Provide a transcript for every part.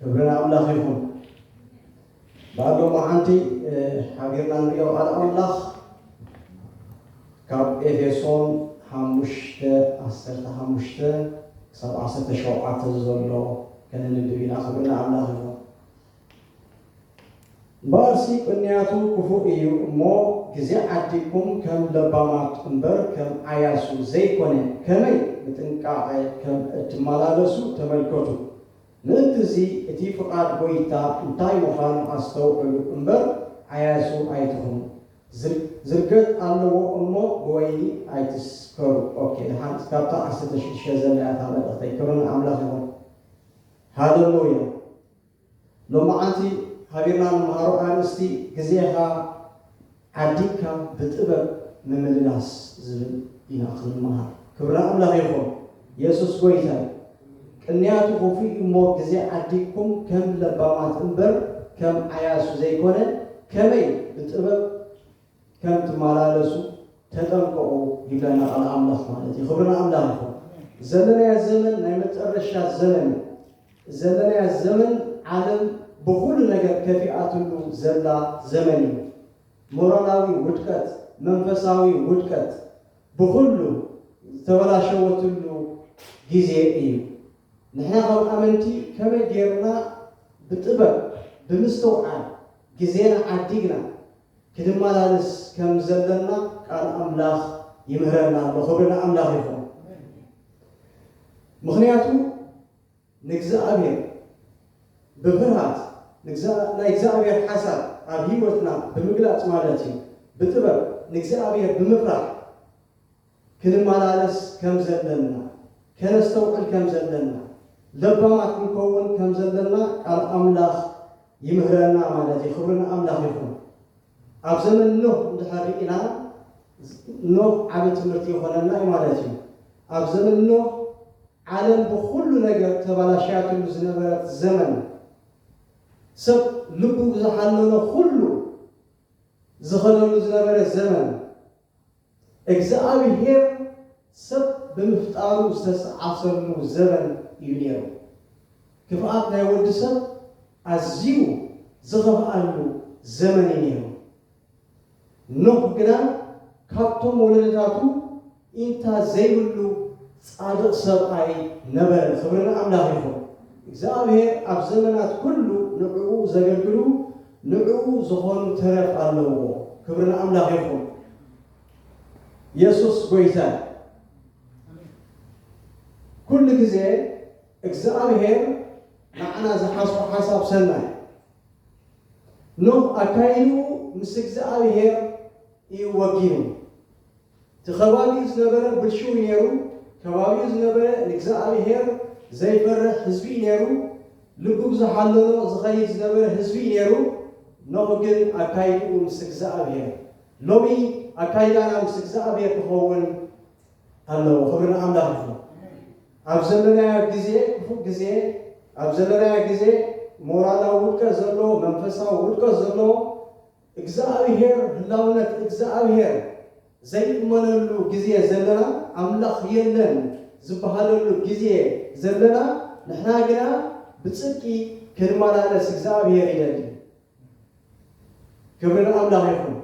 ክብሪ ኣምላኽ ይኹን ባዶ መዓንቲ ሓቢርና ንሪኦ ቃል ኣምላኽ ካብ ኤፌሶን ሓሙሽተ ዓሰርተ ሓሙሽተ ክሳብ ዓሰርተ ሸውዓተ ዘሎ ከነንብብ ኢና ክብሪ ንኣምላኽ ይኹን እምበኣርሲ ቅንያቱ ክፉእ እዩ እሞ ግዜ ዓዲግኩም ከም ለባማት እምበር ከም ዓያሱ ዘይኮነ ከመይ ብጥንቃቐ ከም እትመላለሱ ተመልከቱ። ምእንቲ እዚ እቲ ፍቓድ ጐይታ እንታይ ምዃኑ ኣስተውዕሉ እምበር ዓያሱ ኣይትኹኑ። ዝርገት ኣለዎ እሞ ብወይኒ ኣይትስከሩ። ኦኬ ደሓን እስካብታ ዓሰርተ ሽዱሽተ ዘላ እያ እታ መልእኽተይ ክብሪ ንኣምላኽ ይኹን ሃለሉያ። ሎማዓንቲ ሃገርና ንመሃሮ ኣርእስቲ ግዜኻ ዓዲምካ ብጥበብ ምምልላስ ዝብል ኢና ክንመሃር ክብርና ኣምላኽ ይኹን የሱስ ጎይታ ዩ ቅንያቱ ክፉእ ዩ እሞ ግዜ ዓዲምኩም ከም ለባማት እምበር ከም ዓያሱ ዘይኮነ ከመይ ብጥበብ ከም ትማላለሱ ተጠንቀቁ ይብለና ቃል ኣምላኽ ማለት እዩ ክብሪ ንኣምላኽ ይኹን ዘለናያ ዘመን ናይ መጠረሻ ዘመን እዩ ዘለናያ ዘመን ዓለም ብኹሉ ነገር ከፊኣትሉ ዘላ ዘመን እዩ ሞራላዊ ውድቀት መንፈሳዊ ውድቀት ብኹሉ ዝተበላሸወትሉ ግዜ እዩ ንሕና ከም ኣመንቲ ከመይ ጌርና ብጥበብ ብምስትውዓል ግዜና ዓዲግና ክንመላለስ ከም ዘለና ቃል ኣምላኽ ይምህረና ኣሎ ክብሪ ንኣምላኽ ይኹን ምኽንያቱ ንእግዝኣብሄር ብፍርሃት ናይ እግዝኣብሄር ሓሳብ ኣብ ህይወትና ብምግላጽ ማለት እዩ ብጥበብ ንእግዝኣብሄር ብምፍራሕ ክንመላለስ ከም ዘለና፣ ከነስተውዕል ከም ዘለና፣ ለባማት ክንከውን ከም ዘለና ቃል ኣምላኽ ይምህረና ማለት እዩ። ክብሪ ንኣምላኽ ይኹን። ኣብ ዘመን ኖህ እንድሕር ርኢና ኖህ ዓቢ ትምህርቲ ይኾነና እዩ ማለት እዩ። ኣብ ዘመን ኖህ ዓለም ብኹሉ ነገር ተባላሽያትሉ ዝነበረት ዘመን ሰብ ልቡ ብዝሓለሎ ኹሉ ዝኸደሉ ዝነበረ ዘመን፣ እግዝኣብሄር ሰብ ብምፍጣሩ ዝተሰዓሰሉ ዘበን እዩ ነይሩ። ክፍኣት ናይ ወዲ ሰብ ኣዝዩ ዝኸፍኣሉ ዘመን እዩ ነይሩ። ኖህ ግና ካብቶም ወለዶታቱ ኢንታ ዘይብሉ ጻድቕ ሰብኣይ ነበረ። ክብሪ ንኣምላኽ ይኹን። እግዝኣብሄር ኣብ ዘመናት ኩሉ ንዕኡ ዘገልግሉ ንዕኡ ዝኾኑ ተረፍ ኣለዎ ክብሪ ንኣምላኽ ይኹን የሱስ ጎይታ እዩ ኩሉ ግዜ እግዝኣብሄር ንዓና ዝሓስቦ ሓሳብ ሰናይ ኖህ ኣካይድኡ ምስ እግዝኣብሄር እዩ ወጊኑ እቲ ከባቢኡ ዝነበረ ብልሽው እዩ ነይሩ ከባቢኡ ዝነበረ ንግዝኣብሄር ዘይፈርሕ ህዝቢ እዩ ነይሩ ልቡ ብዝሓለሎ ዝኸይድ ዝነበረ ህዝቢ እዩ ነይሩ ኖህ ግን ኣካይድኡ ምስ እግዝኣብሄር ሎሚ ኣካይዳና ምስ እግዝኣብሄር ክኸውን ኣለዎ ክብሪ ንኣምላኽ ይኹን ኣብ ዘለናዮ ግዜ ክፉእ ግዜ ኣብ ዘለናዮ ግዜ ሞራላዊ ውድቀት ዘለዎ መንፈሳዊ ውድቀት ዘለዎ እግዝኣብሄር ህላውነት እግዝኣብሄር ዘይእመነሉ ግዜ ዘለና ኣምላኽ የለን ዝብሃለሉ ግዜ ዘለና ንሕና ግና ብጽድቂ ክንመላለስ እግዝኣብሄር ይደሊ ክብሪ ንኣምላኽ ይኹን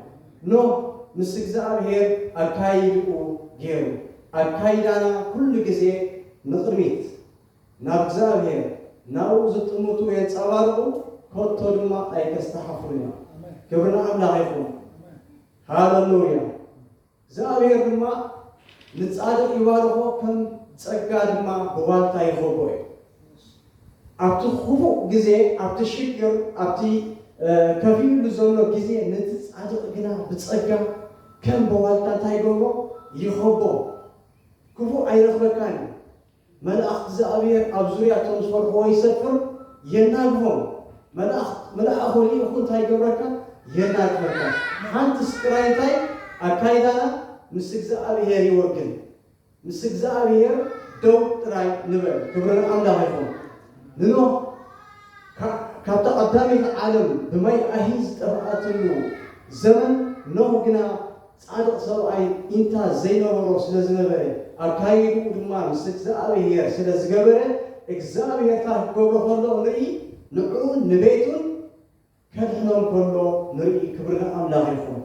ኖህ ምስ እግዝኣብሄር ኣካይድኡ ጌሩ ኣካይዳና ኩሉ ግዜ ንቕድሚት ናብ እግዚኣብሔር ናብኡ ዝጥምቱ የንጸባርቁ ከቶ ድማ ኣይከስተሓፍሩን እዮም ክብሪ ንኣምላኽ ይኹን ሃለሉያ እግዚኣብሔር ድማ ንጻድቅ ይባርኮ ከም ጸጋ ድማ ብዋልታ ይኸቦ እዩ ኣብቲ ክፉእ ግዜ ኣብቲ ሽግር ኣብቲ ከፊኡሉ ዘሎ ግዜ ነቲ ጻድቅ ግና ብጸጋ ከም ብዋልታ እንታይ ይገብሮ ይኸቦ ክፉእ ኣይረኽበካን እዩ መላእኽት እዝኣብሄር ኣብ ዙርያ እቶም ዝፈርሕዎ ይሰፍር፣ የናግሆም። መላእኽት ምልኣኹ ሊኢኹ እንታይ ይገብረካ? የናግፈካ። ሓንትስ ጥራይ እንታይ? ኣካይዳና ምስ እግዝኣብሄር ይወግን። ምስ እግዝኣብሄር ደው ጥራይ ንበል። ክብሪ ንኣምላኽ ይኹን። ንኖህ ካዕ ካብታ ቀዳመይቲ ዓለም ብማይ ኣሂ ዝጠፍኣትሉ ዘመን ኖህ ግና ጻድቕ ሰብኣይ ኢንታ ዘይነበሮ ስለ ዝነበረ ኣካይድኡ ድማ ምስ እግዝኣብሄር ስለ ዝገበረ እግዝኣብሄር ጥራይ ክገብሮ ከሎ ንርኢ ንዕኡን ንቤቱን ከድሕኖም ከሎ ንርኢ ክብሪ ንኣምላኽ ይኹን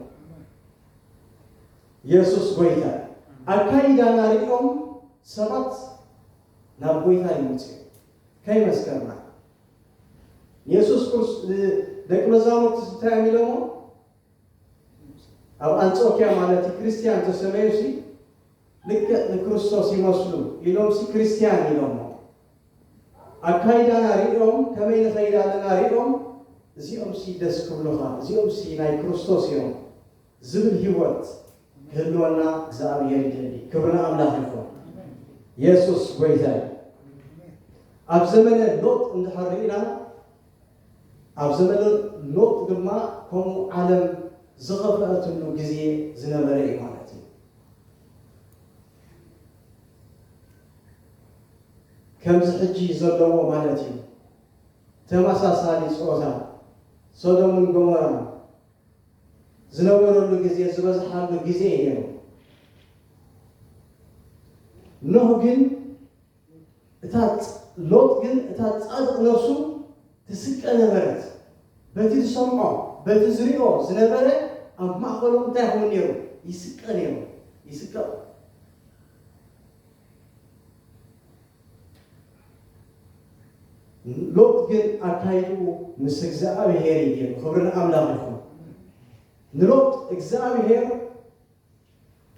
የሱስ ጎይታ እዩ ኣካይዳና ሪኦም ሰባት ናብ ጎይታ ይመጹ እዮም ከይመስከርና የሱስ ክርስ ደቂ መዛሙርቲ እንታይ እዮም ኢሎሞ ኣብ ኣንጾክያ ማለት'ዩ ክርስትያን ተሰመዩሲ ልክዕ ንክርስቶስ ይመስሉ ኢሎምሲ ክርስትያን ኢሎሞ ኣካይዳና ሪኦም ከመይ ንኸይድ ኣለና ሪኦም እዚኦምሲ ደስ ክብሉኻ እዚኦምሲ ናይ ክርስቶስ ኢዮም ዝብል ሂወት ክህልወና እግዝኣብሄር ይደሊ ክብሪ ንኣምላኽ ይኹን የሱስ ጎይታዩ ኣብ ዘመነ ሎጥ እንድሕር ሪኢና ኣብ ዘመነ ሎጥ ድማ ከምኡ ዓለም ዝኸፍኣትሉ ግዜ ዝነበረ እዩ ማለት እዩ። ከምዚ ሕጂ ዘለዎ ማለት እዩ። ተመሳሳሊ ጾታ፣ ሶዶምን ጎሞራን ዝነበረሉ ግዜ ዝበዝሓሉ ግዜ እዩ ነይሩ። ኖህ ግን፣ እታ ሎጥ ግን እታ ጻድቕ ነፍሱ ትስቀ ነበረት። በቲ ዝሰምዖ በቲ ዝሪኦ ዝነበረ ኣብ ማእኸሎም እንታይ ይኸውን ነይሩ? ይስቀ ነይሩ። ይስቀ ሎጥ ግን ኣካይድኡ ምስ እግዚኣብሔር እዩ ገይሩ። ክብሪ ንኣምላኽ ይኹን። ንሎጥ እግዚኣብሔር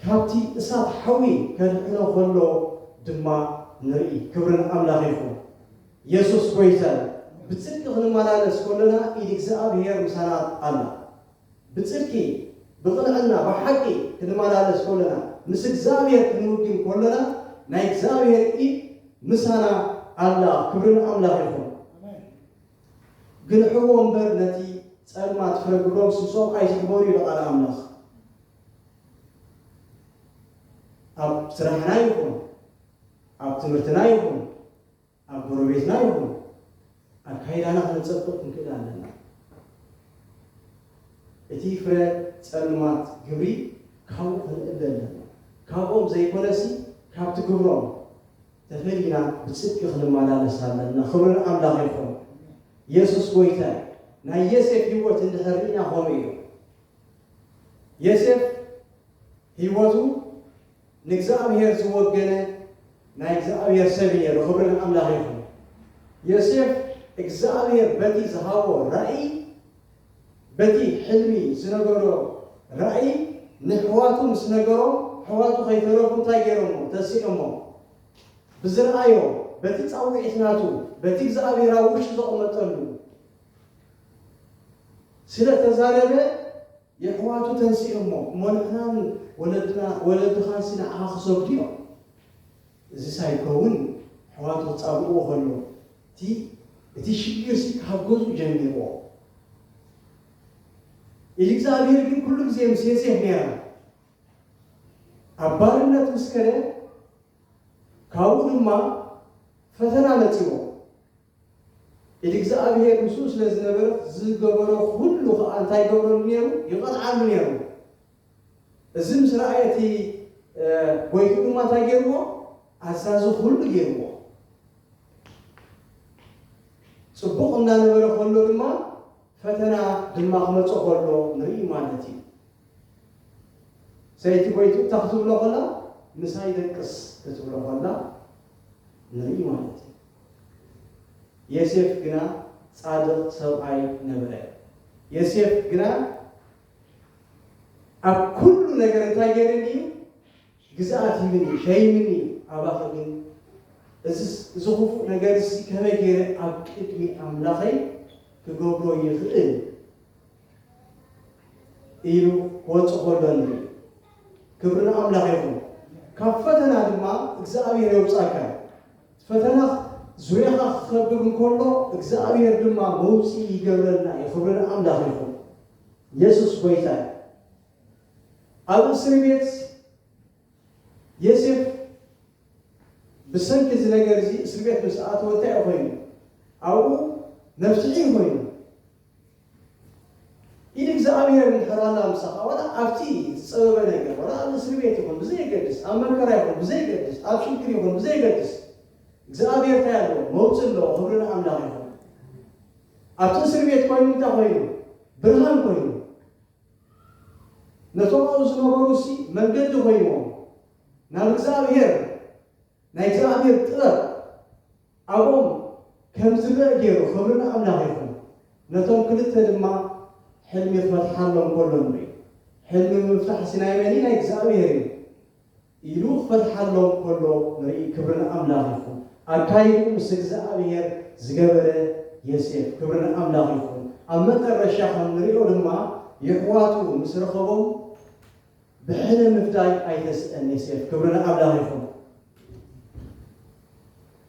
ካብቲ እሳት ሓዊ ከድሕኖ ከሎ ድማ ንርኢ። ክብሪ ንኣምላኽ ይኹን። የሱስ ጎይታ'ዩ። ብጽድቂ ክንመላለስ ከሎና ኢድ እግዝኣብሄር ምሳና ኣላ። ብጽድቂ፣ ብቕንዕና፣ ብሓቂ ክንመላለስ ከሎና፣ ምስ እግዝኣብሄር ክንውግን ከሎና ናይ እግዝኣብሄር ኢድ ምሳና ኣላ። ክብሪ ንኣምላኽ ይኹን። ግርሕዎ እምበር ነቲ ጸልማት ፍረ ግብሮም ስሶም ኣይትሕበሩ ኢሉ ቃል ኣምላኽ። ኣብ ስራሕና ይኹን ኣብ ትምህርትና ይኹን ኣብ ጎረቤትና ይኹን ኣካይዳና ከነጸብቅ ክንክእል ኣለና። እቲ ፍረ ጸልማት ግብሪ ካብኡ ክንእለ ኣለና። ካብኦም ዘይኮነሲ ካብቲ ግብሮም። ተፈሊና ብጽድቂ ክንማላለስ ኣለና ክብሪ ንኣምላኽ ይኹን የሱስ ጎይታ እዩ ናይ የሴፍ ሂወት እንድሕር ሪኢና ከምኡ እዩ የሴፍ ሂወቱ ንእግዝኣብሄር ዝወገነ ናይ እግዝኣብሄር ሰብ እዩ ነይሩ ክብሪ ንኣምላኽ ይኹን የሴፍ እግዝኣብሄር በቲ ዝሃቦ ራኢ በቲ ሕልሚ ዝነበሮ ራእይ ነሕዋቱ ምስ ነገሮም ኣሕዋቱ ከይተረፉ እንታይ ገይሮሞ ተሲኦሞ ብዝረኣዮ በቲ ጻዊዒት ናቱ በቲ እግዝኣብሄር ኣብ ውሽጡ ዘቅመጠሉ ስለ ተዛረበ የሕዋቱ ተንሲኦሞ እሞ ንሕናን ወለድና ወለድኻንሲ ንዓኻ ክሰግዱ እዮም እዚ ሳይከውን ኣሕዋቱ ክጻብእዎ ከሎ እቲ እቲ ሽግርሲ ካብ ገዝኡ ጀሚርዎ ኢልእግዚኣብሄር ግን ኩሉ ግዜ ምስ ዮሴፍ ነይራ ኣብ ባርነት ምስ ከደ ካብኡ ድማ ፈተና መጺዎ ኢልእግዚኣብሄር ምስኡ ስለ ዝነበረት ዝገበሮ ኩሉ ኸዓ እንታይ ይገብረሉ ነይሩ ይቐጥዓሉ ነይሩ እዚ ምስ ረኣየ እቲ ጎይትኡ ድማ እንታይ ገይርዎ? ኣዛዚ ኹሉ ገይርዎ። ጽቡቕ እናነበረ ከሎ ድማ ፈተና ድማ ክመጾ ከሎ ንርኢ ማለት እዩ። ሰይቲ ጎይትኡ እንታይ ክትብሎ ከላ? ምሳይ ደቅስ ክትብሎ ከላ ንርኢ ማለት እዩ። የሴፍ ግና ጻድቕ ሰብኣይ ነበረ። የሴፍ ግና ኣብ ኩሉ ነገር እንታይ ገይረኒ እዩ ግዝኣት ሂብኒ እዩ ሸይምኒ እዩ ኣባኺ ግን እዝስ እዚ ክፉእ ነገር እዚ ከመይ ገይረ ኣብ ቅድሚ ኣምላኸይ ክገብሮ ይኽእል ኢሉ ክወፅእ ከሎ ንርኢ ክብሪ ንኣምላኽ ይኹን ካብ ፈተና ድማ እግዚኣብሔር የውፃካ ፈተና ዙርያኻ ክኸብብ እንከሎ እግዚኣብሔር ድማ መውፅኢ ይገብረልና እዩ ክብሪ ንኣምላኽ ይኹን የሱስ ጎይታ እዩ። ኣብ እስሪ ቤት የሴፍ ብሰንኪ እዚ ነገር እዚ እስሪ ቤት ምስ ኣተወ እንታይ እዩ ኮይኑ? ኣብኡ መፍትሒ እዩ ኮይኑ። ኢድ እግዚኣብሔር እንድሕር ኣላ ምሳኻ ወላ ኣብቲ ዝጸበበ ነገር ወላ ኣብ እስሪ ቤት ይኹን ብዘየገድስ ኣብ መከራ ይኹን ብዘየገድስ ኣብ ሽግር ይኹን ብዘየገድስ እግዝኣብሄር ታይ ኣለዎ መውፅእ ኣለዎ ክብሪ ንኣምላክ ይኩን ኣብቲ እስርቤት ኮይኑ እንታይ ኮይኑ ብርሃን ኮይኑ ነቶም ኣብኡ ዝነበሩ እሲ መንገዲ ኮይንዎም ናብ እግዝኣብሄር ናይ እግዝኣብሄር ጥበብ ኣብኦም ከም ዝረእ ገይሩ ክብሪ ንኣምላክ ይኩን ነቶም ክልተ ድማ ሕልሚ ክፈትሓሎም ከሎ ንርኢ ሕልሚ ምፍታሕ እሲ ናይ መን እዩ ናይ እግዝኣብሄር እዩ ኢሉ ክፈትሓሎም ከሎ ንርኢ ክብሪ ንኣምላኽ ይኹን ኣካይድኡ ምስ እግዝኣብሄር ዝገበረ የሴፍ ክብሪ ንኣምላኽ ይኹን ኣብ መጠረሻ ከም ንሪኦ ድማ የሕዋቱ ምስ ረኸቦም ብሕነ ምፍዳይ ኣይተስእን የሴፍ ክብሪ ንኣምላኽ ይኹን።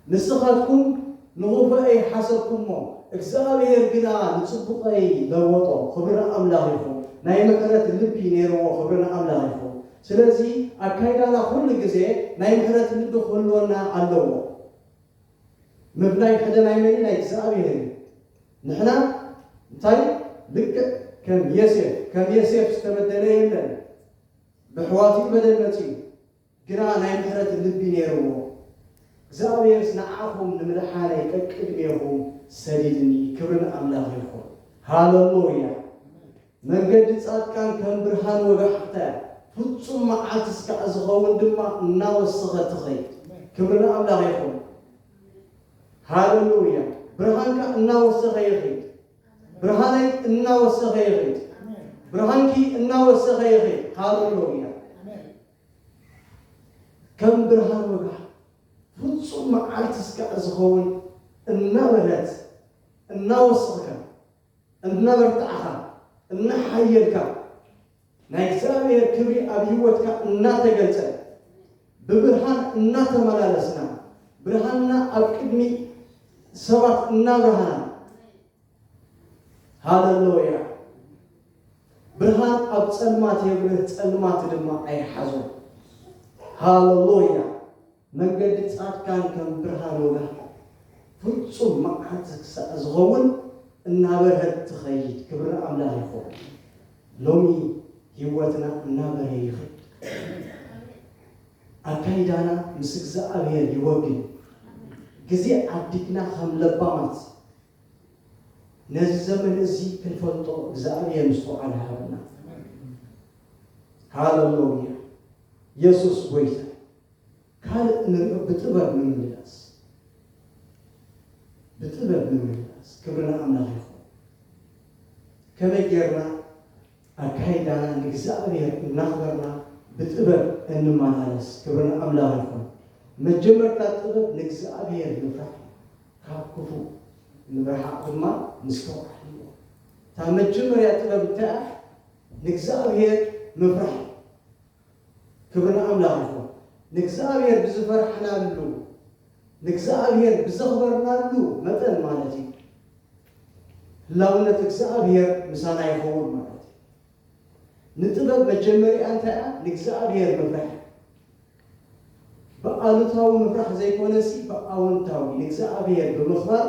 ንስኻትኩም ንኹፈኤይ ሓሰብኩሞ፣ እግዝኣብሄር ግና ንጽቡቐይ ለወጦ፣ ኽብሪ ንኣምላኽ ይኹን። ናይ ምሕረት ልቢ ነይርዎ፣ ኽብሪ ንኣምላኽ ይኹን። ስለዚ ኣካይዳና ኹሉ ግዜ ናይ ምሕረት ልቢ ኽህልወና ኣለዎ። ምፍላይ ሕደ ናይ መን እዩ? ናይ እግዝኣብሄር እዩ። ንሕና እንታይ ልክዕ ከም የሴፍ ከም የሴፍ ዝተበደለ የለን። በሕዋቱ'ዩ በደል መጺኡ። ግና ናይ ምሕረት ልቢ ነይርዎ፣ እግዚኣብሔርስ ንዓኹም ንምድሓነይ ቀቅድሜኹም ሰዲድኒ ክብሪ ንኣምላኽ ይኹን ሃለሎያ መንገዲ ጻድቃን ከም ብርሃን ወጋሕታ እያ ፍጹም መዓልቲ እስካዕ ዝኸውን ድማ እናወሰኸት ትኸይድ ክብሪ ንኣምላኽ ይኹን ሃለሎያ ብርሃንካ እናወሰኸ ይኺድ ብርሃነይ እናወሰኸ ይኸይድ። ብርሃንኪ እናወሰኸ ይኸይድ። ሃሌሉያ። ከም ብርሃን ወጋሕ ፍጹም መዓልቲ እስካዕ ዝኸውን እናበርሀት እናወሰኽካ እናበርታዕኻ እናሓየልካ ናይ እግዚኣብሔር ክብሪ ኣብ ሕይወትካ እናተገልጸ ብብርሃን እናተመላለስና ብርሃንና ኣብ ቅድሚ ሰባት እናብርሃና ሃለሎያ ብርሃን ኣብ ጸልማት የብርህ ጸልማት ድማ ኣይሓዞን ሃለሎያ መንገዲ ጻድቃን ከም ብርሃን ወጋሕታ ፍጹም መዓልቲ ክሳዕ ዝኸውን እናበርሀት ትኸይድ ክብሪ ኣምላኽ ይኹን ሎሚ ሕይወትና እናበርሀ ይኸይድ ኣካይዳና ምስ እግዚኣብሔር ይወግን ግዜ ዓዲግና ከም ለባማት ነዚ ዘመን እዚ ክንፈልጦ እግዚኣብሔር ምስተውዓል ሃበና ሃለሎያ የሱስ ጐይታ ካልእ ንሪኦ ብጥበብ ምምልላስ ብጥበብ ምምልላስ ክብሪ ንኣምላኽ ይኹን ከመይ ጌርና ኣካይዳና ንእግዝኣብሄር እናኽበርና ብጥበብ እንመላለስ ክብሪ ንኣምላኽ ይኹን መጀመርታ ጥበብ ንእግዝኣብሄር ምፍራሕ እዩ ካብ ክፉእ ንምርሓቕ ድማ ምስትውዓል እዩ እታ መጀመርያ ጥበብ እንታይ እያ ንእግዝኣብሄር ምፍራሕ እዩ ክብሪ ንኣምላኽ ይኹን። ንእግዚኣብሔር ብዝፈራሕናሉ፣ ንእግዚኣብሔር ብዘኽበርናሉ መጠን ማለት እዩ፣ ህላውነት እግዚኣብሔር ምሳና ይኸውን ማለት እዩ። ንጥበብ መጀመሪኣ እንታይ እያ? ንእግዚኣብሔር ምፍራሕ እዩ። ብኣሉታዊ ምፍራሕ ዘይኮነሲ ብኣውንታዊ ንእግዚኣብሔር ብምኽባር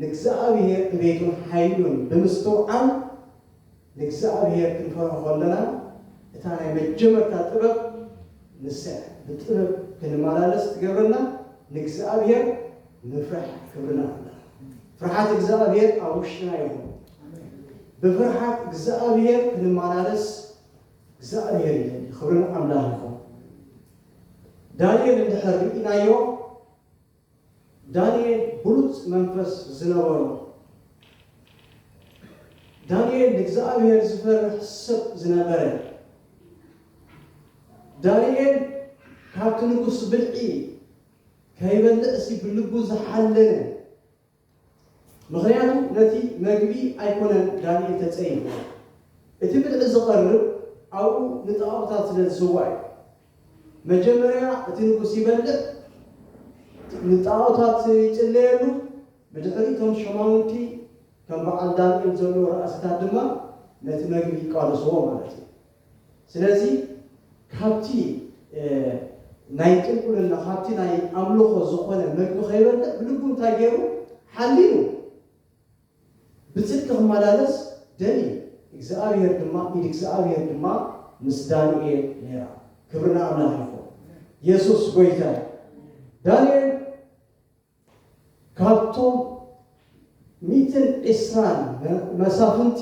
ንእግዚኣብሔር እቤቱን ሓይሉን ብምስትውዓል ንእግዚኣብሄር ክንፈርሆ ከሎና እታ ናይ መጀመርታ ጥበብ ንሳ እያ። ብጥበብ ክንመላለስ እትገብረና ንእግዚኣብሄር ምፍራሕ ክብርና ከለና። ፍርሓት እግዚኣብሄር ኣብ ውሽጥና ይኹን። ብፍርሓት እግዚኣብሄር ክንመላለስ እግዚኣብሄር ይደሊ። ክብርን ኣምላኽ ይኹን። ዳንኤል እንድሕር ርኢናዮ ዳንኤል ብሉጽ መንፈስ ዝነበሮ። ዳንኤል ንእግዚኣብሔር ዝፈርሕ ሰብ ዝነበረ። ዳንኤል ካብቲ ንጉስ ብልዒ ከይበልዕሲ ብልቡ ዝሓለነ። ምኽንያቱ ነቲ መግቢ ኣይኮነን ዳንኤል ተጸይፉዎ፣ እቲ ብልዒ ዝቐርብ ኣብኡ ንጣኦታት ስለ ዝስዋእ እዩ። መጀመርያ እቲ ንጉስ ይበልዕ፣ ንጣኦታት ይጽለየሉ፣ ብድሕሪኡ እቶም ሸማውንቲ ከም በዓል ዳንኤል ዘሎ ራእሲታት ድማ ነቲ መግቢ ይቃለሱዎ ማለት እዩ። ስለዚ ካብቲ ናይ ጥንቁልና ካብቲ ናይ ኣምልኾ ዝኾነ መግቢ ከይበልዕ ብልቡ እንታይ ገይሩ ሓሊኑ ብጽድቂ ክመላለስ ደልዩ እግዝኣብሄር ድማ ኢድ እግዝኣብሄር ድማ ምስ ዳንኤል ነይራ ክብሪ ንኣምላኽ ይኹን የሱስ ጎይታ እዩ ዳንኤል ካብቶም ሚእትን ዕስራን መሳፍንቲ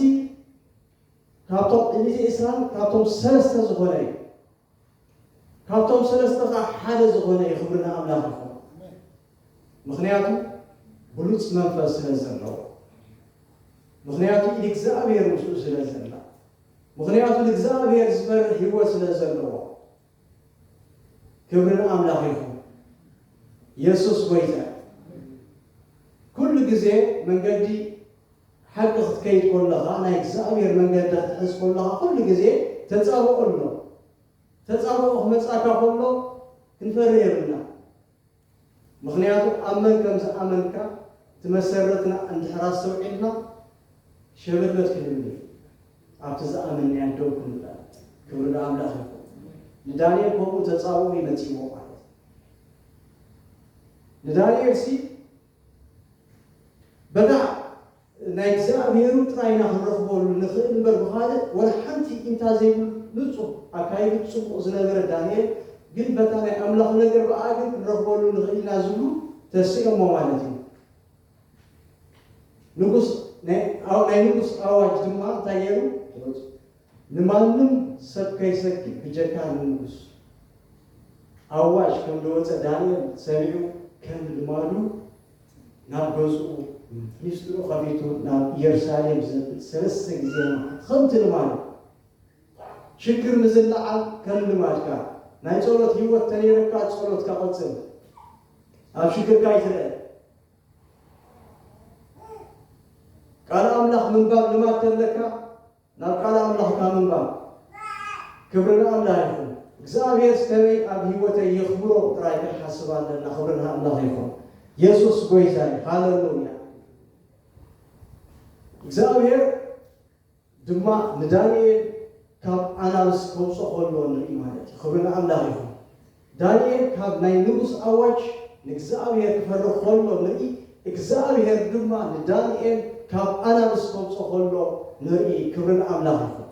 ካብቶም ሚእትን ዕስራን ካብቶም ሰለስተ ዝኾነ እዩ ካብቶም ሰለስተ ከኣ ሓደ ዝኾነ እዩ ክብሪ ንኣምላኽ ይኹን ምኽንያቱ ብሉጽ መንፈስ ስለ ዘለዎ ምኽንያቱ ኢድ እግዚኣብሔር ምስኡ ስለ ዘላ ምኽንያቱ ንእግዚኣብሔር ዝፈርሕ ህይወት ስለ ዘለዎ ክብሪ ንኣምላኽ ይኹን የሱስ ጎይታ እዩ። ኩሉ ግዜ መንገዲ ሓቂ ክትከይድ ኮለኻ ናይ እግዚኣብሔር መንገዲ ክትሕዝ ኮለኻ ኩሉ ግዜ ተጻብኦ ኣሎ ተጻብኦ ክመጻካ ኮሎ ክንፈርህ የብልና ምኽንያቱ ኣብ መን ከም ዝኣመንካ ትመሰረትና እንድሕር ኣስተውዒልና ሸበድበድ ክንብል ኣብቲ ዝኣመንናዮ ደው ክንበል ክብሪ ንኣምላኽ ይኹን ንዳንኤል ከምኡ ተጻብኦ እዩ መጺእዎ ማለት ንዳንኤል ሲ በታ ናይ እግዚኣብሔሩ ጥራይ ኢና ክንረኽበሉ ንኽእል እምበር ብኻልእ ወላ ሓንቲ ኢንታ ዘይብሉ ንጹህ ኣካይድኡ ጽቡቕ ዝነበረ ዳንኤል ግን በታ ናይ ኣምላኹ ነገር ብኣኣ ግን ክንረኽበሉ ንኽእል ኢና ዝብሉ ተሲኦሞ ማለት እዩ ንጉስ ናይ ናይ ንጉስ ኣዋጅ ድማ እንታይ ገይሩ ንማንም ሰብ ከይሰኪ ብጀካ ንንጉስ። ኣዋጅ ከም ደወጸ ዳንኤል ሰሚዑ ከም ልማዱ ናብ ገዝኡ ሚስጥሩ ከፊቱ ናብ ኢየሩሳሌም ዘብል ሰለስተ ግዜ መዓት ከምቲ ልማዱ። ሽግር ምዝላዓል ከም ልማድካ ናይ ጸሎት ሂወት ተነይረካ ጸሎትካ ቀጽል ኣብ ሽግርካ ኣይትርእ። ቃል ኣምላኽ ምንባብ ልማድ ተለካ። ናብ ቃል ኣምላኽካ ምንባብ ክብሪ ንኣላህ ይኹን እግዝኣብሄርስ ከመይ ኣብ ሂወተይ የኽብሮ ጥራይ ክንሓስብ ኣለና ክብሪ ንኣምላኽ ይኹን የሱስ ጎይታይ ሃለሉያ እግዝኣብሄር ድማ ንዳንኤል ካብ ኣናብስ ከውጾ ከሎ ንርኢ ማለት እዩ ክብሪ ንኣምላኽ ይኹን ዳንኤል ካብ ናይ ንጉስ ኣዋጅ ንእግዝኣብሄር ክፈርህ ከሎ ንርኢ እግዝኣብሄር ድማ ንዳንኤል ካብ ኣናብስ ከውጾ ከሎ ንርኢ ክብሪ ንኣምላኽ ይኹን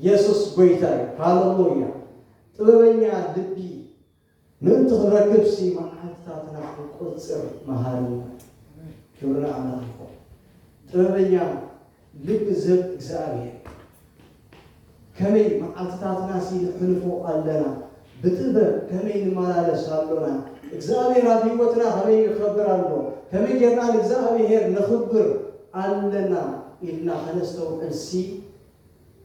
የሱስ ጎይታ እዩ ሃለሉያ ጥበበኛ ልቢ ምእንቲ ክንረክብሲ መዓልትታትና ክንቆጽር መሃረና ክብሪ ንኣምላኽ ይኹን ጥበበኛ ልእዝብ እግዚኣብሔር ከመይ መዓልትታትናሲ ንሕልፎ ኣለና ብጥበብ ከመይ ንመላለስ ኣሎና እግዚኣብሔር ኣብ ሕይወትና ከመይ ይኸብር ኣሎ ከመይ ጌርና ንእግዚኣብሔር ነኽብር ኣለና ኢልና ከነስተውዕልሲ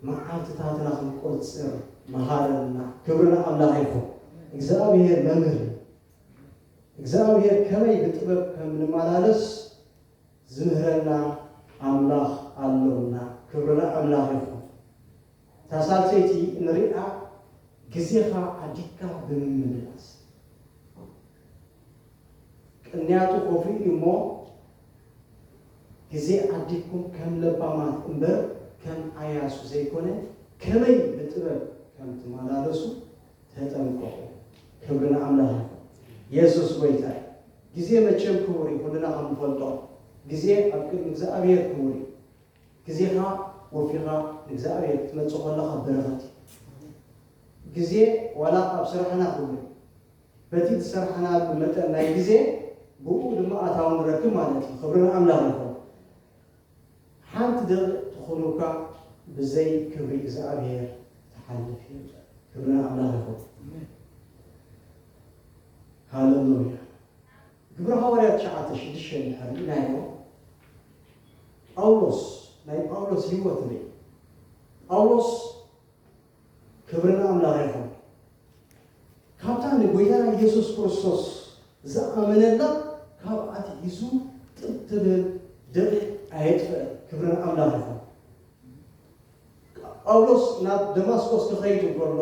መዓልትታትና ክንቆጽር መሃረና ክብሪ ንኣምላኽ ይኹን እግዚኣብሔር መምህር እግዚኣብሔር ከመይ ብጥበብ ከም ንመላለስ ዝምህረና ኣምላኽ ኣሎና ክብሪ ንኣምላኽ ይኹን። እታ ሳልሰይቲ እንሪኣ ግዜኻ ዓዲግካ ብምምልላስ ቅንያቱ ኮፍኡ እዩ እሞ ግዜ ዓዲግኩም ከም ለባማት እምበር ከም ኣያሱ ዘይኮነ ከመይ ብጥበብ ከም ትመላለሱ ተጠምቆ ክብሪ ንኣምላኽ ይኹን የሱስ ጎይታ እዩ። ግዜ መቸም ክቡር እዩ ኩልና ከም ንፈልጦ ግዜ ኣብ ቅድሚ እግዝኣብሄር ክቡር እዩ። ግዜኻ ወፊኻ ንእግዝኣብሄር ክትመጽእ ከለኻ በረኸት እዩ። ግዜ ዋላ ኣብ ስራሕና ክቡር እዩ። በቲ ዝሰራሕናሉ መጠን ናይ ግዜ ብኡ ድማ ኣታዊ ንረክብ ማለት እዩ። ክብሪ ንኣምላኽ ይኹን። ሓንቲ ደቂቅ ትኩኑካ ብዘይ ክብሪ እግዝኣብሄር ትሓልፍ የለን ክብሪ ንኣምላክ ይኩን ሃለሉያ ግብሪ ሃዋርያት ትሽዓተ ሽዱሽተ እንድሕር ሪኢናዮ ጳውሎስ ናይ ጳውሎስ ሂወት ንርኢ ጳውሎስ ክብሪ ንኣምላኽ ይኹን። ካብታ ንጎይታና ኢየሱስ ክርስቶስ ዝኣመነላ ካብ ኣትሒዙ ጥብ ትብል ደቂቕ ኣየጥፍእን። ክብሪ ንኣምላኽ ይኹን። ጳውሎስ ናብ ደማስቆስ ክኸይድ እንከሎ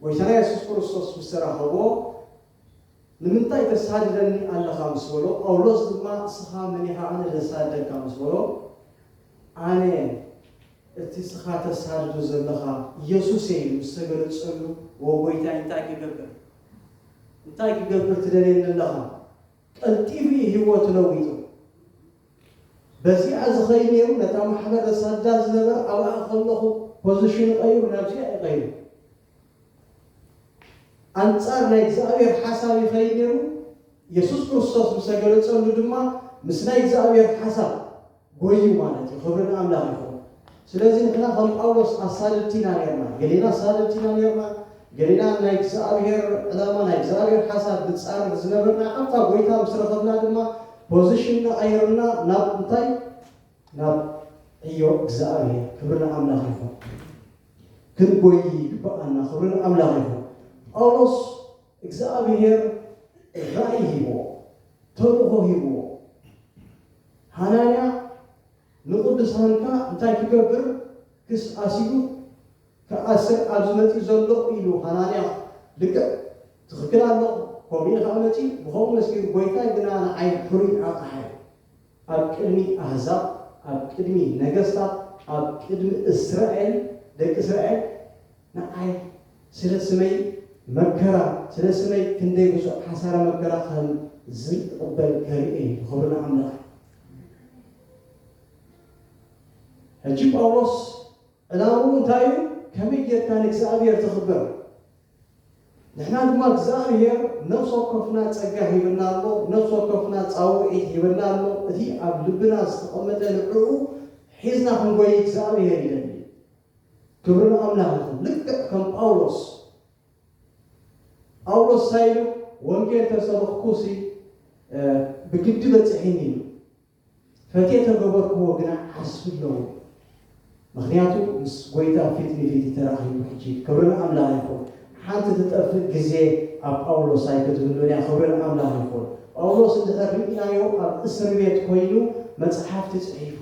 ጎይታና ኢየሱስ ክርስቶስ ምስ ተራኸቦ ንምንታይ ተሳድደኒ ኣለኻ ምስ በሎ፣ ጳውሎስ ድማ እስኻ መን ኢኻ ኣነ ዘሳድደካ ምስ በሎ፣ ኣነ እቲ እስኻ ተሳድዶ ዘለኻ ኢየሱስ እየ ኢሉ ምስ ተገለጸሉ፣ ዎ ጐይታይ እንታይ ክገብር እንታይ ክገብር ትደልየኒ ኣለኻ? ቀልጢፉ እዩ ህይወቱ ለዊጡ። በዚኣ ዝኸይድ ነይሩ ነታ ማሕበር ዘሳድዳ ዝነበረ ኣብኣ ከለኹ ፖዚሽኑ ቀይሩ ናብዚኣ እዩ ቀይሩ። ኣንጻር ናይ እግዚኣብሔር ሓሳብ ይኸይድ ነይሩ፣ የሱስ ክርስቶስ ምስ ተገለጸሉ ድማ ምስ ናይ እግዚኣብሔር ሓሳብ ጎዩ ማለት እዩ። ክብሪ ንኣምላኽ ይኹን። ስለዚ ንሕና ከም ጳውሎስ ኣሳደድቲ ኢና ነርና፣ ገሌና ኣሳደድቲ ኢና ነርና፣ ገሌና ናይ እግዚኣብሔር ዕላማ ናይ እግዚኣብሔር ሓሳብ ንጻረር ዝነበርና፣ ካብታ ጎይታ ምስ ረኸብና ድማ ፖዚሽንና ቀይርና ናብ እንታይ? ናብ ዕዮ እግዝኣብሄር ክብሪ ንኣምላኽ ይኹን ክንጎዪ ይግብኣና ክብሪ ንኣምላኽ ይኹን ጳውሎስ እግዝኣብሄር ራእይ ሂብዎ ተልእኾ ሂብዎ ሃናንያ ንቕዱሳንካ እንታይ ክገብር ክስ ኣሲሉ ክኣስር ኣብዚ መጺኡ ዘሎ ኢሉ ሃናንያ ልክዕ ትኽክል ኣለኹ ከምኡ ኢኻ መጺኡ ብኸምኡ መስኪሩ ጎይታይ ግና ንዓይ ሕሩይ ኣቕሓይ ኣብ ቅድሚ ኣህዛብ፣ ኣብ ቅድሚ ነገስታት፣ ኣብ ቅድሚ እስራኤል፣ ደቂ እስራኤል ንኣይ፣ ስለ ስመይ መከራ፣ ስለ ስመይ ክንደይ ብዙሕ ሓሳረ መከራ ከም ዝቕበል ከርኢ እዩ። ክብሪ ንኣምላኽ እዩ። ሕጂ ጳውሎስ፣ ዕላምኡ እንታይ እዩ? ከመይ ጌርካ ንእግዚኣብሄር ተኽብር? ንሕና ድማ እግዚኣብሄር ነፍሲ ወከፍና ጸጋ ሂብና ኣሎ፣ ነፍሲ ወከፍና ጻውዒት ሂብና ኣሎ፣ እቲ ኣብ ልብና ዝተቐመጠ ንዕኡ ሒዝና ክንጎዪ እግዚኣብሄር ይደሊ። ክብሪ ንኣምላኽ ይኹን። ልክዕ ከም ጳውሎስ። ጳውሎስ እንታይ ኢሉ? ወንጌል ተሰበኽኩሲ ብግዲ በጺሒኒ ኢሉ። ፈትየ ተገበርክዎ ግና ዓስቢ ኣለዎ ምክንያቱ ምስ ጎይታ ፊት ንፊት ተራኪቡ ሕጂ ክብሪ ንኣምላኽ ይኩን ሓንቲ ትጠፍእ ግዜ ኣብ ጳውሎስ ኣይክትህሉን እያ ክብሪ ንኣምላኽ ይኩን ጳውሎስ እንድሕር ሪኢናዮ ኣብ እስርቤት ኮይኑ መጽሓፍቲ ጽሒፉ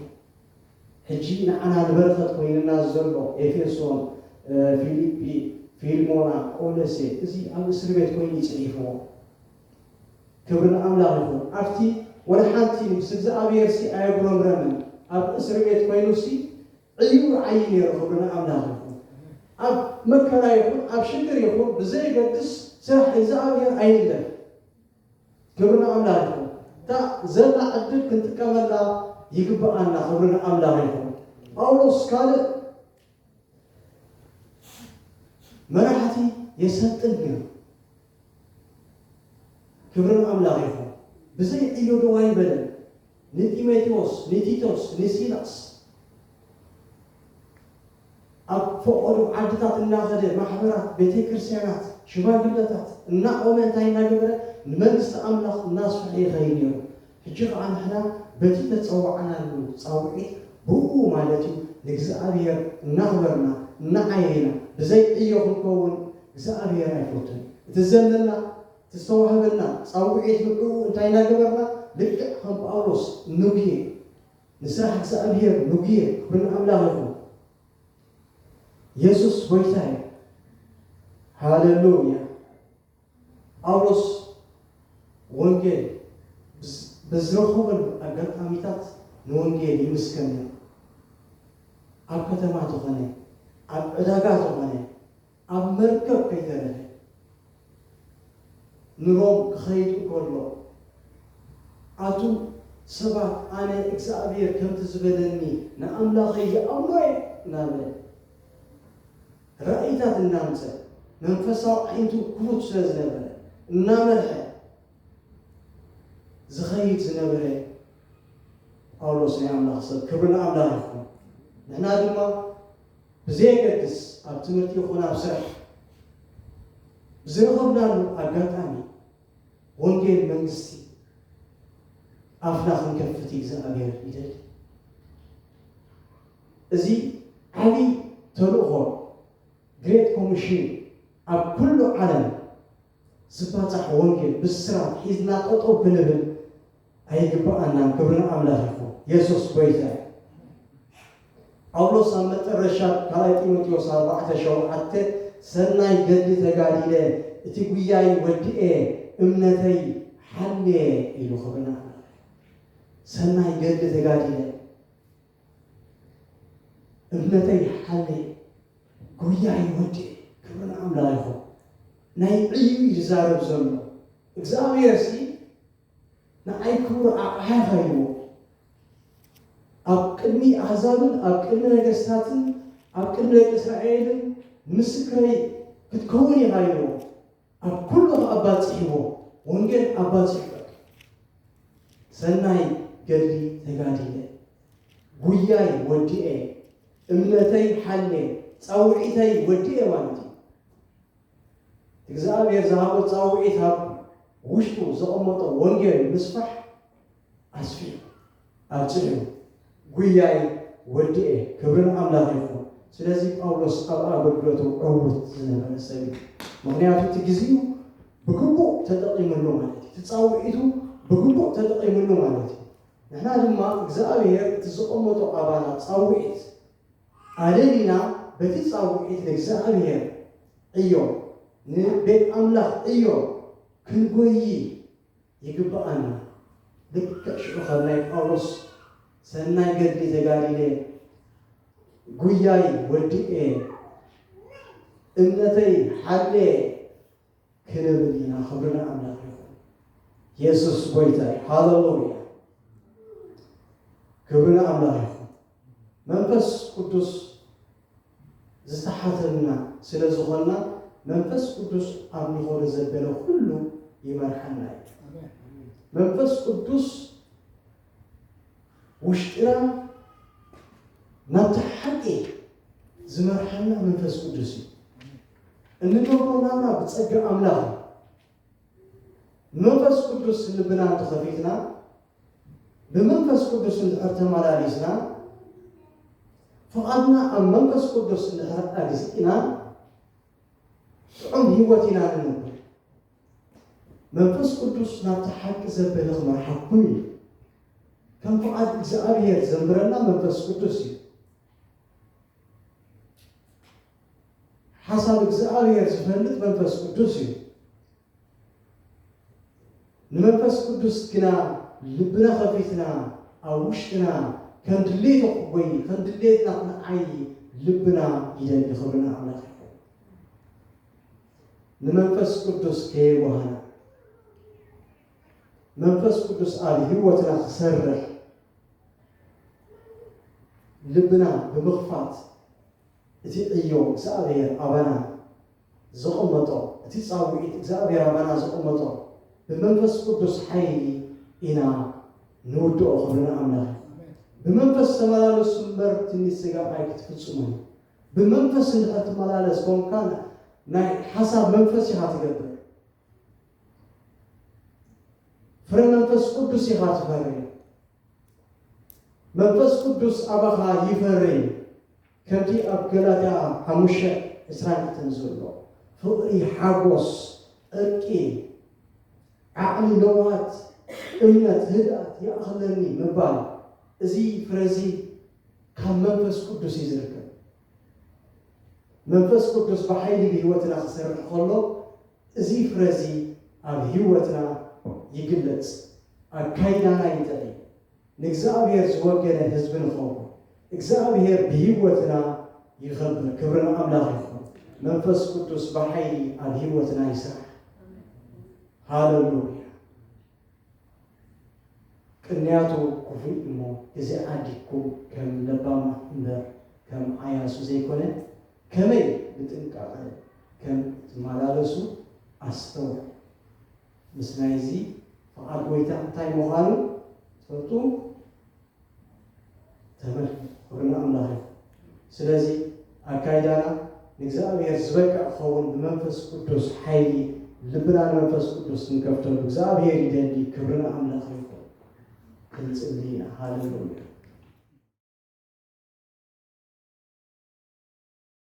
ሕጂ ንዓና ንበረከት ኮይንና ዘሎ ኤፌሶን ፊሊጲ ፊልሞና ቆለሴ እዚ ኣብ እስርቤት ኮይኑ እዩ ጽሒፍዎ። ክብሪ ንኣምላኽ ይኹን ኣብቲ ወላ ሓንቲ ምስ እግዝኣብሄርሲ ኣየጉረምረመን ኣብ እስርቤት ኮይኑሲ ዕዩኡ ይዓዪ ኔሩ ክብሪ ንኣምላኽ ይኹን ኣብ መከራ ይኹን ኣብ ሽግር ይኹን ብዘየገድስ ስራሕ እግዝኣብሄር ኣይንግደፍ ክብሪ ንኣምላኽ ይኹን እታ ዘላ ዕድል ክንጥቀመላ ይግብኣና ክብሪ ንኣምላኽ ይኹን ጳውሎስ ካልእ መራሕቲ የሰልጥን ኔሩ ክብሪ ንኣምላኽ ይኹን ብዘይ ዒሎ ደው ኣይበለን ንጢሞቴዎስ ንቲቶስ ንሲላስ ኣብ ፈቖዶ ዓድታት እናኸደ ማሕበራት ቤተክርስቲያናት ሽማግለታት እናቖመ እንታይ እናገበረ ንመንግስቲ ኣምላኽ እናስፍሐ ይኸይድ ኔሩ ሕጂ ኸኣ ንሕና በቲ እተጸዋዕናሉ ጻውዒት ብእኡ ማለት እዩ ንእግዚኣብሄር እናኽበርና እናዓየና ብዘይ ዕዮ ክንከውን እግዚኣብሄር ኣይፈቱን እዩ። እቲ ዘለና እቲ ዝተዋህበና ጻውዒት ንዕኡ እንታይ እናገበርና ልክዕ ከም ጳውሎስ ንጉየ ንስራሕ እግዚኣብሄር ንጉየ ክብሪ ንኣምላኽ ይኹን የሱስ ጎይታ እዩ ሃለሉያ። ጳውሎስ ወንጌል በዝረኸበሉ ኣጋጣሚታት ንወንጌል ይምስከር ነይሩ። ኣብ ከተማ ተኾነ፣ ኣብ ዕዳጋ ተኾነ፣ ኣብ መርከብ ከይተረፈ ንሮም ክኸይድ እንከሎ ኣቱም ሰባት ኣነ እግዝኣብሄር ከምቲ ዝበለኒ ንኣምላኸይ ይኣምኖ እየ እናበለ ራእይታት እናምጸ መንፈሳዊ ኣዒንቱ ክፉት ስለ ዝነበረ እናመርሐ ዝኸይድ ዝነበረ ጳውሎስ ናይ ኣምላኽ ሰብ ክብሪ ንኣምላኽ ይኹን። ንሕና ድማ ብዘየገድስ ኣብ ትምህርቲ ይኹን ኣብ ስራሕ ብዝረኸብናሉ ኣጋጣሚ ወንጌል መንግስቲ ኣፍና ክንከፍት እግዚኣብሔር ይደሊ። እዚ ዓቢ ተልእኾ ግሬት ኮሚሽን ኣብ ኩሉ ዓለም ዝባጻሕ ወንጌል ብስራት ሒዝና ጠጠው ክንብል ኣይግብኣናን ክብሪ ንኣምላኽ ይኹን የሱስ ጎይታ እዩ። ጳውሎስ ኣብ መጠረሻ ካልኣይ ጢሞቴዎስ ኣርባዕተ ሸውዓተ ሰናይ ገድሊ ተጋዲለ እቲ ጉያይ ወዲኤ እምነተይ ሓልየ ኢሉ ክብሪ ንኣምላኽ ይኹን ሰናይ ገድሊ ተጋዲለ። እምነተይ ሓለየ ጉያይ ወድየ ክብሪ ንኣምላኽ ይኹን። ናይ ዕዩ እዩ ዝዛረብ ዘሎ እግዚኣብሔርሲ ንዓይ ክቡር ኣቕሓ ኸይዎ ኣብ ቅድሚ ኣሕዛብን ኣብ ቅድሚ ነገስታትን ኣብ ቅድሚ ደቂ እስራኤልን ምስክረይ ክትከውን ኢኻ ኢልዎ ኣብ ኩሉ ከኣባጺሕዎ ወንጌል ኣባጺሑ በቃ ሰናይ ገድሊ ተጋዲለ ጉያይ ወዲኤ እምነተይ ሓሌ ጻውዒተይ ወዲኤ ማለት እዩ። እግዚኣብሔር ዝሃቦ ጻውዒት ኣብ ውሽጡ ዘቐመጦ ወንጌል ምስፋሕ ኣስፍየ ኣብጽሕዮ ጉያይ ወዲኤ ክብሪ ንኣምላኽ ይኹን ስለዚ ጳውሎስ ኣብ ኣገልግሎቱ ዕዉት ዝነበረ ሰብ እዩ ምኽንያቱ እቲ ግዚኡ ብግቡእ ተጠቂምሉ ማለት እዩ እቲ ጻውዒቱ ብግቡእ ተጠቂምሉ ማለት እዩ ንሕና ድማ እግዚኣብሔር እቲ ዘቐመጦ ኣባና ጻውዒት ኣለሊና በቲ ጻውዒት ንእግዚኣብሔር ዕዮ ንቤት ኣምላኽ ዕዮ ክንጎዪ ይግብኣኒ ልክዕ ሽዑ ከም ናይ ጳውሎስ ሰናይ ገድሊ ተጋዲለ ጉያይ ወዲኤ እምነተይ ሓልየ ክንብል ኢና ክብሪ ንኣምላኽ ይኹን የሱስ ጎይታ ሃለሉያ ክብሪ ንኣምላኽ ይኹን መንፈስ ቅዱስ ዝተሓተምና ስለ ዝኾንና መንፈስ ቅዱስ ኣብ ንኸዶ ዘበለ ኩሉ ይመርሓና እዩ። መንፈስ ቅዱስ ውሽጥና ናብቲ ሓቂ ዝመርሓና መንፈስ ቅዱስ እዩ። እንገብሮ ናብራ ብጸጋ ኣምላኽ እዩ። መንፈስ ቅዱስ ልብና እንተኸፊትና ብመንፈስ ቅዱስ እንድሕር ተመላሊስና፣ ፍቓድና ኣብ መንፈስ ቅዱስ እንድሕር ኣግዚእና፣ ጥዑም ህይወት ኢና ንነብር። መንፈስ ቅዱስ ናብቲ ሓቂ ዘበለ ክመርሓኩም እዩ። ከም ፍቓድ እግዚኣብሔር ዘንብረና መንፈስ ቅዱስ እዩ። ሓሳብ እግዚኣብሔር ዝፈልጥ መንፈስ ቅዱስ እዩ። ንመንፈስ ቅዱስ ግና ልብና ከፊትና ኣብ ውሽጥና ከም ድሌቱ ወይ ከም ድሌትና ክንዓዪ ልብና ይደሊ። ክብሪ ንኣምላኽ ይኹን። ንመንፈስ ቅዱስ ከየዋህና መንፈስ ቅዱስ ኣብ ህይወትና ክሰርሕ ልብና ብምኽፋት እቲ ዕዮ እግዝኣብሄር ኣባና ዘቐመጦ፣ እቲ ጻውኢት እግዝኣብሄር ኣባና ዘቐመጦ ብመንፈስ ቅዱስ ሓይሊ ኢና ንውድኦ ክብሪ ንኣምላኽ ይኹን። ብመንፈስ ተመላለሱ እምበር ትምኒት ስጋ ኣይክትፍጽሙን እዩ። ብመንፈስ እንድሕር ትመላለስ ኮንካ ናይ ሓሳብ መንፈስ ኢኻ ትገብር። ፍረ መንፈስ ቅዱስ ኢኻ ትፈሪ መንፈስ ቅዱስ ኣባኻ ይፈሪ ከምቲ ኣብ ገላትያ ሓሙሽተ ዕስራን ክልተን ዘሎ ፍቕሪ ሓጎስ ዕርቂ ዓቕሊ ለውሃት እምነት ህድኣት ይኣኽለኒ ምባል እዚ ፍረዚ ካብ መንፈስ ቅዱስ እዩ ዝርከብ መንፈስ ቅዱስ ብሓይሊ ብህይወትና ክሰርሕ ከሎ እዚ ፍረ እዚ ኣብ ህይወትና ይግለጽ፣ ኣካይዳና ይጥዕይ፣ ንእግዚኣብሔር ዝወገነ ህዝቢ ንኸውን፣ እግዚኣብሔር ብህይወትና ይኸብር፣ ክብሪ ንኣምላኽ ይኹን፣ መንፈስ ቅዱስ ብሓይሊ ኣብ ህይወትና ይስራሕ። ሃለሉያ። ቅንያቱ ኩፉይ እሞ እዚ ዓዲግኩም ከም ለባማት እምበር ከም ዓያሱ ዘይኮነ ከመይ ብጥንቃቀ ከም እትማላለሱ ኣስተውዕሉ ምስ ናይዚ ፍቃድ ጎይታ እንታይ ምኳኑ ትፈልጡ። ተመልከት፣ ኩሩ ንኣምላኽ ይኹን። ስለዚ ኣካይዳና ንእግዚኣብሔር ዝበቅዕ ክኸውን ብመንፈስ ቅዱስ ሓይሊ ልብና ንመንፈስ ቅዱስ ክንከፍተሉ እግዚኣብሔር ይደሊ። ክብሪ ንኣምላኽ ይኹን። ክንጽሊ ኢና። ሃሌሉያ